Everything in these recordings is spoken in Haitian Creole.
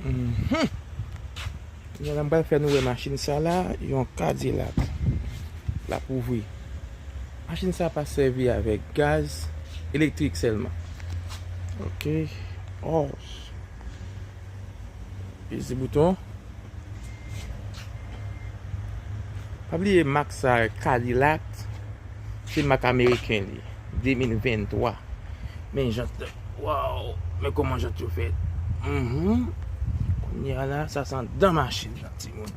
Kounye la m pral fè nou wè machin sa la, yon kadilak l ap ouvri. Machin sa pa sèvi avèk gaz, elektrik sèlman. Ok, òs, peze bouton. Pa bliye mak sa kadilak, se mak ameriken li, 2023. Men jant la. Waww. Men koman jant yo fèt. Mhumm. Kounye a la sa san dan machin nan ti moun.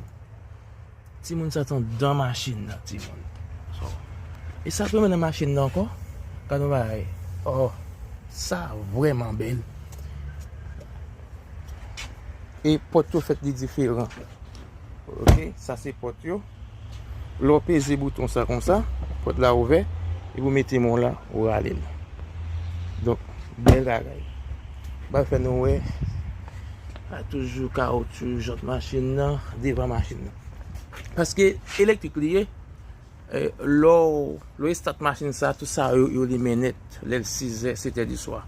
Ti moun sa san dan machin nan ti moun. So. E sa ki nan machin nan ankò. Gade yon bagay. Oh. Sa vreman bèl. E pòt yo fèt li diferan. Ok. Sa se pòt yo. Lè w peze bouton sa konsa, pòt la ouvè, epi ou mete men w la, ou rale l. Donk, bèl bagay. M pral fè nou wè, sa toujou kawotchou jant machin nan, devan machin nan. Paske, elektrik li ye, lè w estat machin sa, tout sa yo limen nèt, lè l sizè, setè diswa.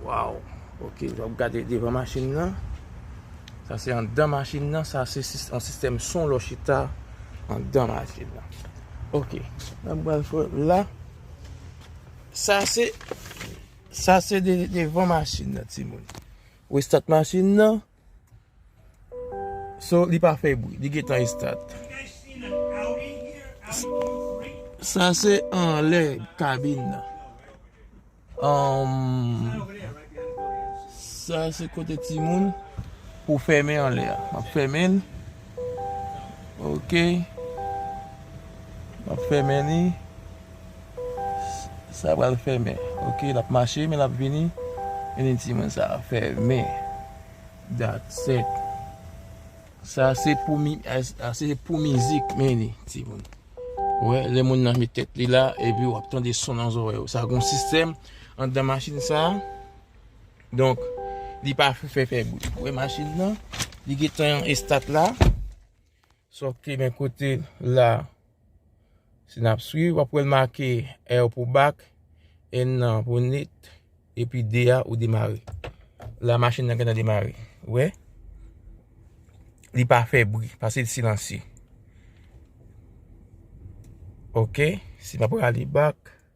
Waww! Ok, nou ap gade devan machin nan. Sa se andan machin nan, sa se yon sistèm son lò chita andan machin nan. Ok, mwen pral fè la. Sa se, sa se devan machin nan ti moun. Ou estat machin nan. So, li pa fè bwi, li gen tan estat. Sa se anlè kabin nan. Sa se kote timoun pou fèmen anlè a. Map fèmen l. Ok. Map fèmen li. Sa pral fèmen. Ok. Lap mache men lap vini. Vini timoun sa. Fèmen. Dat set. Sa se pou mi sa se pou mizik men li ti moun. Wè lè moun nan met tèt li la epi wap tande son nan zorèy ou. Sa gon sistèm anndan machin sa. Donk li pa fè fè bri. Ou wè machin nan li gentan estat la. Sòk te men kote la Si nap swiv wap wèl make R pou bak, N nan pou nit, epi D a ou demare. La machin nan gentan demare. Ou wè? Li pa fè bri, pase l silansye. Ok, si nap rale bak.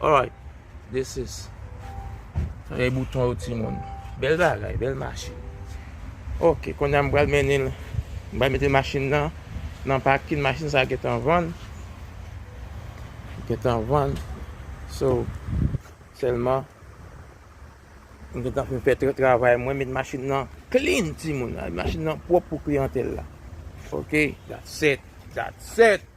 Alright this is Fèy bouton yo ti moun Bèl bagay bèl machin Ok kounye a m pral mennen l M pral mete machin nan Nan pakin machin sa gentan vann Gentan vann So Sèlman M gentan fin fè tout travay mwen Met machin nan clean ti moun Machin nan pwòp pou kliyantèl la Ok that's it That's it